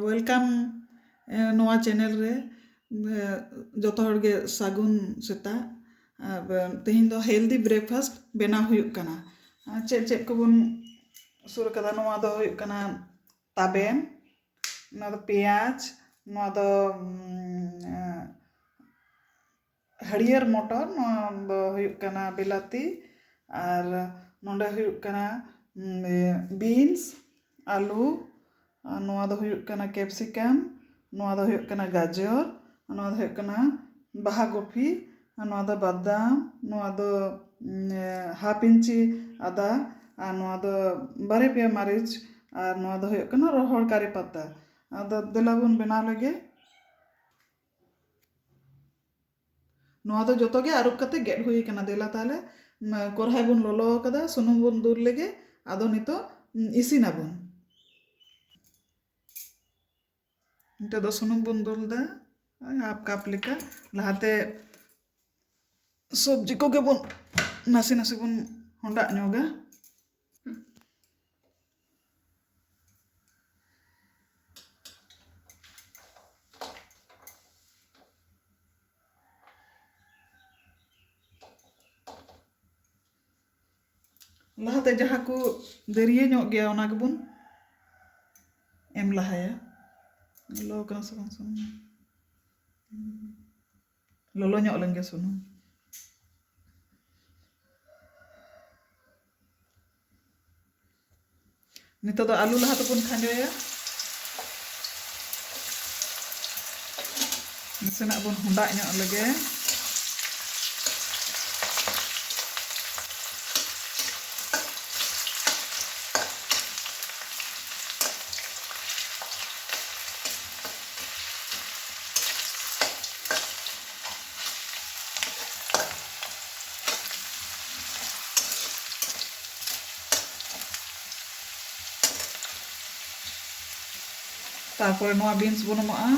welcome ᱱᱚᱣᱟ channel ᱨᱮ ᱡᱚᱛᱚ ᱦᱚᱲ ᱜᱮ ᱥᱟᱹᱜᱩᱱ ᱥᱮᱛᱟᱜ ᱛᱮᱦᱮᱧ ᱫᱚ ᱦᱮᱞᱫᱤ ᱵᱨᱮᱠᱯᱷᱟᱥᱴ ᱵᱮᱱᱟᱣ ᱦᱩᱭᱩᱜ ᱠᱟᱱᱟ ᱪᱮᱫ ᱪᱮᱫ ᱠᱚᱵᱚᱱ ᱥᱩᱨ ᱠᱟᱫᱟ ᱱᱚᱣᱟ ᱫᱚ ᱦᱩᱭᱩᱜ ᱠᱟᱱᱟ ᱛᱟᱵᱮᱱ ᱱᱚᱣᱟ ᱫᱚ ᱯᱮᱸᱭᱟᱡᱽ ᱱᱚᱣᱟ ᱫᱚ ᱦᱟᱹᱨᱭᱟᱹᱲ ᱢᱚᱴᱚᱨ ᱱᱚᱣᱟ ᱫᱚ ᱦᱩᱭᱩᱜ ᱠᱟᱱᱟ ᱵᱤᱞᱟᱹᱛᱤ ᱟᱨ ᱱᱚᱸᱰᱮ ᱦᱩᱭᱩᱜ ᱠᱟᱱᱟ ᱵᱤᱱᱥ ᱟᱹᱞᱩ ᱟᱨ ᱱᱚᱣᱟ ᱫᱚ ᱦᱩᱭᱩᱜ ᱠᱟᱱᱟ ᱠᱮᱯᱥᱤᱠᱟᱢ ᱱᱚᱣᱟ ᱫᱚ ᱦᱩᱭᱩᱜ ᱠᱟᱱᱟ ᱜᱟᱡᱚᱨ ᱟᱨ ᱱᱚᱣᱟ ᱫᱚ ᱦᱩᱭᱩᱜ ᱠᱟᱱᱟ ᱵᱟᱦᱟ ᱠᱚᱯᱷᱤ ᱟᱨ ᱱᱚᱣᱟ ᱫᱚ ᱵᱟᱫᱟᱢ ᱱᱚᱣᱟ ᱫᱚ ᱦᱟᱯᱷ ᱤᱧᱪᱤ ᱟᱫᱟ ᱟᱨ ᱱᱚᱣᱟ ᱫᱚ ᱵᱟᱨᱭᱟ ᱯᱮᱭᱟ ᱢᱟᱹᱨᱤᱪ ᱟᱨ ᱱᱚᱣᱟ ᱫᱚ ᱦᱩᱭᱩᱜ ᱠᱟᱱᱟ ᱨᱚᱦᱚᱲ ᱠᱟᱨᱤ ᱯᱟᱛᱟ ᱟᱫᱚ ᱫᱮᱞᱟ ᱵᱚᱱ ᱵᱮᱱᱟᱣ ᱞᱮᱜᱮ ᱱᱚᱣᱟ ᱫᱚ ᱡᱚᱛᱚ ᱜᱮ ᱟᱹᱨᱩᱵ ᱠᱟᱛᱮ ᱜᱮᱫ ᱦᱩᱭ ᱟᱠᱟᱱᱟ ᱫᱮᱞᱟ ᱛᱟᱦᱚᱞᱮ ᱠᱚᱨᱦᱟᱭ ᱵᱚᱱ ᱞᱚᱞᱚ ᱟᱠᱟᱫᱟ ᱥᱩᱱᱩᱢ ᱵᱚᱱ ᱫᱩᱞ ᱞᱮᱜᱮ ᱟᱫᱚ ᱱᱤᱛᱚᱜ ᱤᱥᱤᱱ ᱟᱵᱚᱱ ᱱᱤᱛᱚᱜ ᱫᱚ ᱥᱩᱱᱩᱢ ᱵᱚᱱ ᱫᱩᱞ ᱮᱫᱟ ᱦᱟᱯ ᱠᱟᱯ ᱞᱮᱠᱟ ᱞᱟᱦᱟᱛᱮ ᱥᱚᱵᱽᱡᱤ ᱠᱚᱜᱮ ᱵᱚᱱ ᱱᱟᱥᱮ ᱱᱟᱥᱮ ᱵᱚᱱ ᱦᱚᱸᱰᱟᱜ ᱧᱚᱜᱟ ᱞᱟᱦᱟᱛᱮ ᱡᱟᱦᱟᱸ ᱠᱚ ᱫᱟᱹᱨᱭᱟᱹ ᱧᱚᱜ ᱜᱮᱭᱟ ᱚᱱᱟ ᱜᱮᱵᱚᱱ ᱮᱢ ᱞᱟᱦᱟᱭᱟ ᱞᱚᱞᱚ ᱠᱟᱱᱟ ᱥᱮ ᱵᱟᱝ ᱥᱩᱱᱩᱢ ᱞᱚᱞᱚ ᱧᱚᱜ ᱞᱮᱱ ᱜᱮ ᱥᱩᱱᱩᱢ ᱱᱤᱛᱚᱜ ᱫᱚ ᱟᱹᱞᱩ ᱞᱟᱦᱟ ᱛᱮᱵᱚᱱ ᱠᱷᱟᱸᱡᱚᱭᱟ ᱱᱟᱥᱮᱱᱟᱜ ᱵᱚᱱ ᱦᱚᱸᱰᱟᱜ ᱧᱚᱜ ᱞᱮᱜᱮ ᱛᱟᱨᱯᱚᱨᱮ ᱱᱚᱣᱟ ᱵᱤᱱᱥ ᱵᱚᱱ ᱮᱢᱟᱜᱼᱟ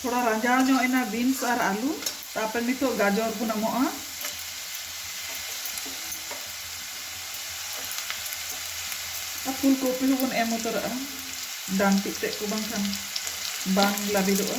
ᱛᱷᱚᱲᱟ ᱨᱟᱸᱡᱟᱣ ᱧᱚᱜ ᱮᱱᱟ ᱵᱤᱱᱥ ᱟᱨ ᱟᱞᱩ ᱛᱟᱨᱯᱚᱨ ᱱᱤᱛᱚᱜ ᱜᱟᱡᱚᱨ ᱵᱚᱱ ᱮᱢᱚᱜᱼᱟ ᱟᱨ ᱯᱷᱩᱞ ᱠᱚᱯᱤ ᱦᱚᱸᱵᱚᱱ ᱮᱢ ᱩᱛᱟᱹᱨᱟᱜᱼᱟ ᱰᱟᱱᱴᱤᱡ ᱛᱮᱫ ᱠᱚ ᱵᱟᱝᱠᱷᱟᱱ ᱵᱟᱝ ᱞᱟᱹᱵᱤᱫᱚᱜᱼᱟ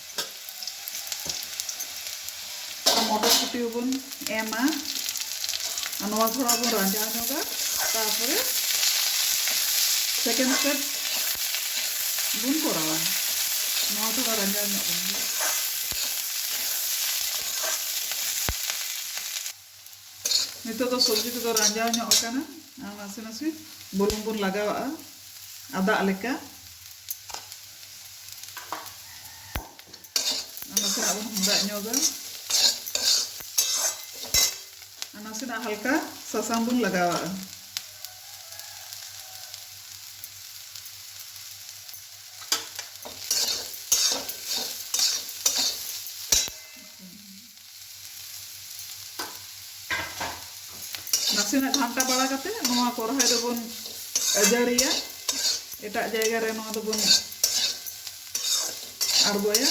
ᱢᱚᱴᱚᱨᱥᱩᱴᱤ ᱦᱚᱸᱵᱚᱱ ᱮᱢᱟ ᱟᱨ ᱱᱚᱣᱟ ᱛᱷᱚᱲᱟ ᱵᱚᱱ ᱨᱟᱸᱡᱟᱣ ᱧᱚᱜᱟ ᱛᱟᱨᱯᱚᱨᱮ ᱥᱮᱠᱮᱱᱰ ᱥᱴᱮᱯ ᱵᱚᱱ ᱠᱚᱨᱟᱣᱟ ᱱᱚᱣᱟ ᱛᱷᱚᱲᱟ ᱨᱟᱸᱡᱟᱣ ᱧᱚᱜ ᱵᱚᱱ ᱱᱤᱛᱚᱜ ᱫᱚ ᱥᱚᱵᱽᱡᱤ ᱠᱚᱫᱚ ᱨᱟᱸᱡᱟᱣ ᱧᱚᱜ ᱟᱠᱟᱱᱟ ᱟᱨ ᱱᱟᱥᱮ ᱱᱟᱥᱮ ᱵᱩᱞᱩᱝ ᱵᱚᱱ ᱞᱟᱜᱟᱣᱟᱜᱼᱟ ᱟᱫᱟᱜ ᱞᱮᱠᱟ ᱟᱨ ᱱᱟᱥᱮᱱᱟᱜ ᱵᱚᱱ ᱦᱚᱸᱫᱟᱜ ᱧᱚᱜᱟ ᱟᱨ ᱱᱟᱥᱮᱱᱟᱜ ᱦᱟᱞᱠᱟ ᱥᱟᱥᱟᱝ ᱵᱚᱱ ᱞᱟᱜᱟᱣᱟᱜᱼᱟ ᱱᱟᱥᱮᱱᱟᱜ ᱜᱷᱟᱱᱴᱟ ᱵᱟᱲᱟ ᱠᱟᱛᱮ ᱱᱚᱣᱟ ᱠᱚᱨᱦᱟᱭ ᱫᱚᱵᱚᱱ ᱟᱹᱡᱟᱹᱲᱤᱭᱟ ᱮᱴᱟᱜ ᱡᱟᱭᱜᱟ ᱨᱮ ᱱᱚᱣᱟ ᱫᱚᱵᱚᱱ ᱟᱬᱜᱚᱭᱟ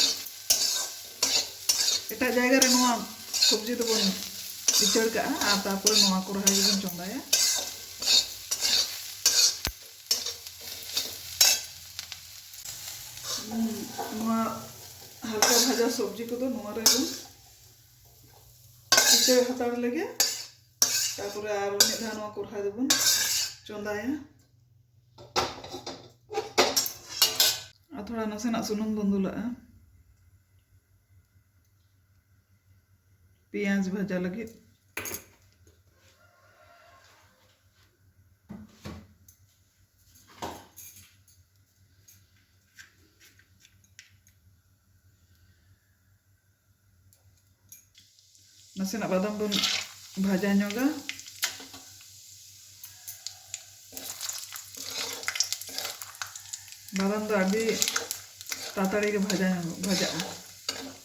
ᱮᱴᱟᱜ ᱡᱟᱭᱜᱟ ᱨᱮ ᱱᱚᱣᱟ ᱥᱚᱵᱽᱡᱤ ᱫᱚᱵᱚᱱ ᱤᱪᱟᱹᱲ ᱠᱟᱜᱼᱟ ᱟᱨ ᱛᱟᱨᱯᱚᱨᱮ ᱱᱚᱣᱟ ᱠᱚᱨᱦᱟᱭ ᱜᱮᱵᱚᱱ ᱪᱚᱸᱫᱟᱭᱟ ᱦᱟᱞᱠᱟ ᱵᱷᱟᱡᱟ ᱥᱚᱵᱽᱡᱤ ᱠᱚᱫᱚ ᱱᱚᱣᱟ ᱨᱮ ᱵᱚᱱ ᱤᱛᱟᱹ ᱦᱟᱛᱟᱲ ᱞᱮᱜᱮ ᱛᱟᱨᱯᱚᱨᱮ ᱟᱨ ᱢᱤᱫ ᱫᱷᱟᱣ ᱱᱚᱣᱟ ᱠᱚᱨᱦᱟᱭ ᱫᱚᱵᱚᱱ ᱪᱚᱸᱫᱟᱭᱟ ᱟᱨ ᱛᱷᱚᱲᱟ ᱱᱟᱥᱮᱱᱟᱜ ᱥᱩᱱᱩᱢ ᱵᱚᱱ ᱫᱩᱞᱟᱜᱼᱟ ᱯᱮᱸᱭᱟᱡᱽ ᱵᱷᱟᱡᱟ ᱞᱟᱹᱜᱤᱫ ᱱᱟᱥᱮᱱᱟᱜ ᱵᱟᱫᱟᱢ ᱵᱚᱱ ᱵᱷᱟᱡᱟ ᱧᱚᱜᱟ ᱵᱟᱫᱟᱢ ᱫᱚ ᱟᱹᱰᱤ ᱛᱟᱲᱟᱛᱟᱲᱤ ᱜᱮ ᱵᱷᱟᱡᱟ ᱧᱚᱜᱚᱜ ᱵᱷᱟᱡᱟᱜᱼᱟ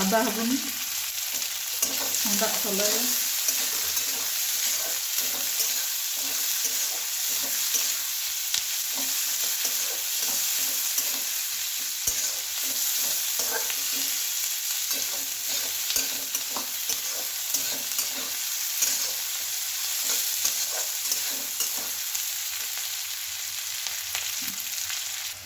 ᱟᱫᱟ ᱦᱚᱸᱵᱚᱱ ᱦᱚᱸᱰᱟᱜ ᱥᱟᱞᱟᱭᱟ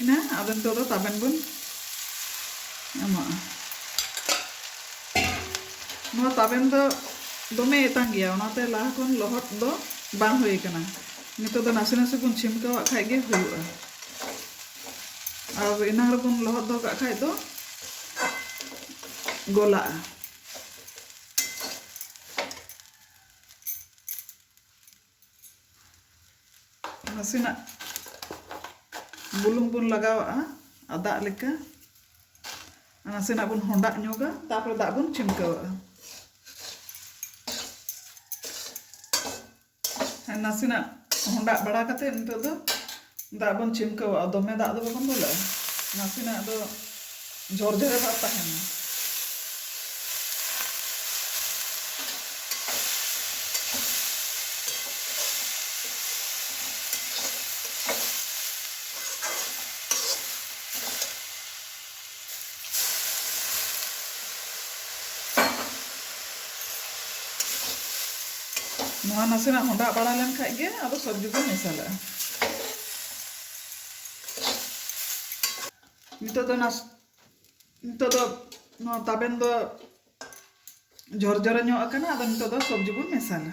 ᱮᱱᱟ ᱟᱫᱚ ᱱᱤᱛᱚᱜ ᱫᱚ ᱛᱟᱵᱮᱱ ᱵᱚᱱ ᱮᱢᱟᱜᱼᱟ ᱱᱚᱣᱟ ᱛᱟᱵᱮᱱ ᱫᱚ ᱫᱚᱢᱮ ᱮᱛᱟᱝ ᱜᱮᱭᱟ ᱚᱱᱟᱛᱮ ᱞᱟᱦᱟ ᱠᱷᱚᱱ ᱞᱚᱦᱚᱫ ᱫᱚ ᱵᱟᱝ ᱦᱩᱭ ᱟᱠᱟᱱᱟ ᱱᱤᱛᱚᱜ ᱫᱚ ᱱᱟᱥᱮ ᱱᱟᱥᱮ ᱵᱚᱱ ᱪᱷᱤᱢᱠᱟᱹᱣᱟᱜ ᱠᱷᱟᱡ ᱜᱮ ᱦᱩᱭᱩᱜᱼᱟ ᱟᱨ ᱮᱱᱟᱝ ᱨᱮᱵᱚᱱ ᱞᱚᱦᱚᱫ ᱫᱚᱦᱚ ᱠᱟᱜ ᱠᱷᱟᱡ ᱫᱚ ᱜᱚᱞᱟᱜᱼᱟ ᱱᱟᱥᱮᱱᱟᱜ ᱵᱩᱞᱩᱝ ᱵᱚᱱ ᱞᱟᱜᱟᱣᱟᱜᱼᱟ ᱟᱨ ᱫᱟᱜ ᱞᱮᱠᱟ ᱱᱟᱥᱮᱱᱟᱜ ᱵᱚᱱ ᱦᱚᱸᱰᱟᱜ ᱧᱚᱜᱟ ᱛᱟᱨᱯᱚᱨᱮ ᱫᱟᱜ ᱵᱚᱱ ᱪᱷᱤᱢᱠᱟᱹᱣᱟᱜᱼᱟ ᱱᱟᱥᱮᱱᱟᱜ ᱦᱚᱸᱰᱟᱜ ᱵᱟᱲᱟ ᱠᱟᱛᱮ ᱱᱤᱛᱚᱜ ᱫᱚ ᱫᱟᱜ ᱵᱚᱱ ᱪᱷᱤᱢᱠᱟᱹᱣᱟᱜᱼᱟ ᱫᱚᱢᱮ ᱫᱟᱜ ᱫᱚ ᱵᱟᱵᱚᱱ ᱫᱩᱞᱟᱜᱼᱟ ᱱᱟᱥᱮᱱᱟᱜ ᱫᱚ ᱡᱷᱚᱨ ᱡᱷᱚᱨᱮ ᱵᱷᱟᱵᱽ ᱛᱟᱦᱮᱱᱟ ᱱᱚᱣᱟ ᱱᱟᱥᱮᱱᱟᱜ ᱦᱚᱸᱰᱟᱜ ᱵᱟᱲᱟ ᱞᱮᱱ ᱠᱷᱟᱱ ᱜᱮ ᱟᱫᱚ ᱥᱚᱵᱽᱡᱤ ᱵᱚᱱ ᱢᱮᱥᱟᱞᱟᱜᱼᱟ ᱱᱤᱛᱚᱜ ᱫᱚ ᱱᱟᱥ ᱱᱤᱛᱚᱜ ᱫᱚ ᱱᱚᱣᱟ ᱛᱟᱵᱮᱱ ᱫᱚ ᱡᱚᱨᱡᱚᱨᱮ ᱧᱚᱜ ᱟᱠᱟᱱᱟ ᱟᱫᱚ ᱱᱤᱛᱚᱜ ᱫᱚ ᱥᱚᱵᱽᱡᱤ ᱵᱚᱱ ᱢᱮᱥᱟᱞᱟ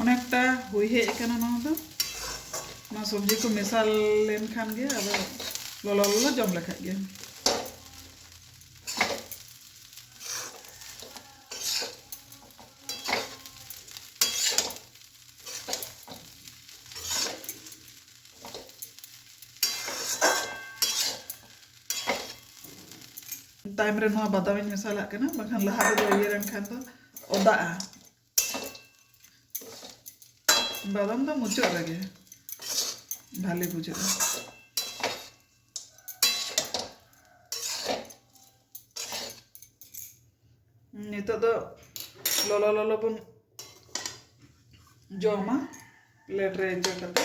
ᱚᱱᱮᱠᱴᱟ ᱦᱩᱭ ᱦᱮᱡ ᱟᱠᱟᱱᱟ ᱱᱚᱣᱟ ᱫᱚ ᱱᱚᱣᱟ ᱥᱚᱵᱽᱡᱤ ᱠᱚ ᱢᱮᱥᱟ ᱞᱮᱱᱠᱷᱟᱱ ᱜᱮ ᱟᱫᱚ ᱞᱚᱞᱚ ᱞᱚᱞᱚ ᱡᱚᱢ ᱞᱮᱠᱷᱟᱡ ᱜᱮ ᱛᱟᱭᱚᱢ ᱨᱮ ᱱᱚᱣᱟ ᱵᱟᱫᱟᱢ ᱤᱧ ᱢᱮᱥᱟᱞᱟᱜ ᱠᱟᱱᱟ ᱵᱟᱝᱠᱷᱟᱱ ᱞᱟᱦᱟ ᱨᱮᱫᱚ ᱤᱭᱟᱹ ᱞᱮᱱᱠᱷᱟᱱ ᱫᱚ ᱚᱫᱟᱜᱼᱟ ᱵᱟᱫᱟᱢ ᱫᱚ ᱢᱩᱪᱟᱹᱫ ᱨᱮᱜᱮ ᱵᱷᱟᱞᱮ ᱵᱩᱡᱷᱟᱹᱜᱼᱟ ᱱᱤᱛᱚᱜ ᱫᱚ ᱞᱚᱞᱚ ᱞᱚᱞᱚ ᱵᱚᱱ ᱡᱚᱢᱟ ᱯᱞᱮᱴ ᱨᱮ ᱤᱭᱟᱹ ᱠᱟᱛᱮ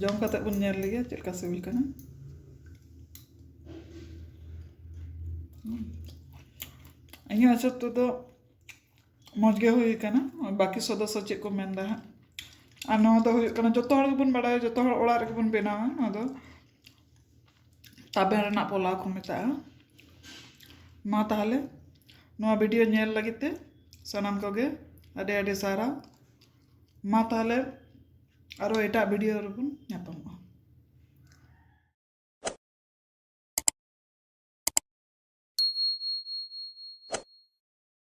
ᱡᱚᱢ ᱠᱟᱛᱮ ᱵᱚᱱ ᱧᱮᱞ ᱞᱮᱜᱮ ᱪᱮᱫ ᱞᱮᱠᱟ ᱥᱤᱵᱤᱞ ᱠᱟᱱᱟ ᱤᱧᱟᱹᱜ ᱦᱤᱥᱟᱹᱵ ᱛᱮᱫᱚ ᱢᱚᱡᱽ ᱜᱮ ᱦᱩᱭ ᱠᱟᱱᱟ ᱵᱟᱹᱠᱤ ᱥᱚᱫᱚᱥᱥᱚ ᱪᱮᱫ ᱠᱚ ᱢᱮᱱᱫᱟ ᱦᱟᱸᱜ ᱟᱨ ᱱᱚᱣᱟ ᱫᱚ ᱦᱩᱭᱩᱜ ᱠᱟᱱᱟ ᱡᱚᱛᱚ ᱦᱚᱲ ᱜᱮᱵᱚᱱ ᱵᱟᱲᱟᱭᱟ ᱡᱚᱛᱚ ᱦᱚᱲ ᱚᱲᱟᱜ ᱨᱮᱜᱮ ᱵᱚᱱ ᱵᱮᱱᱟᱣᱟ ᱱᱚᱣᱟ ᱫᱚ ᱛᱟᱵᱮᱱ ᱨᱮᱱᱟᱜ ᱯᱚᱞᱟᱣ ᱠᱚ ᱢᱮᱛᱟᱜᱼᱟ ᱢᱟ ᱛᱟᱦᱚᱞᱮ ᱱᱚᱣᱟ ᱵᱷᱤᱰᱤᱭᱳ ᱧᱮᱞ ᱞᱟᱹᱜᱤᱫ ᱛᱮ ᱥᱟᱱᱟᱢ ᱠᱚᱜᱮ ᱟᱹᱰᱤ ᱟᱹᱰᱤ ᱥᱟᱨᱦᱟᱣ ᱢᱟ ᱛᱟᱦᱚᱞᱮ ᱟᱨᱚ ᱮᱴᱟᱜ ᱵᱷᱤᱰᱤᱭᱳ ᱨᱮᱵᱚᱱ ᱧᱟᱯᱟᱢᱚᱜᱼᱟ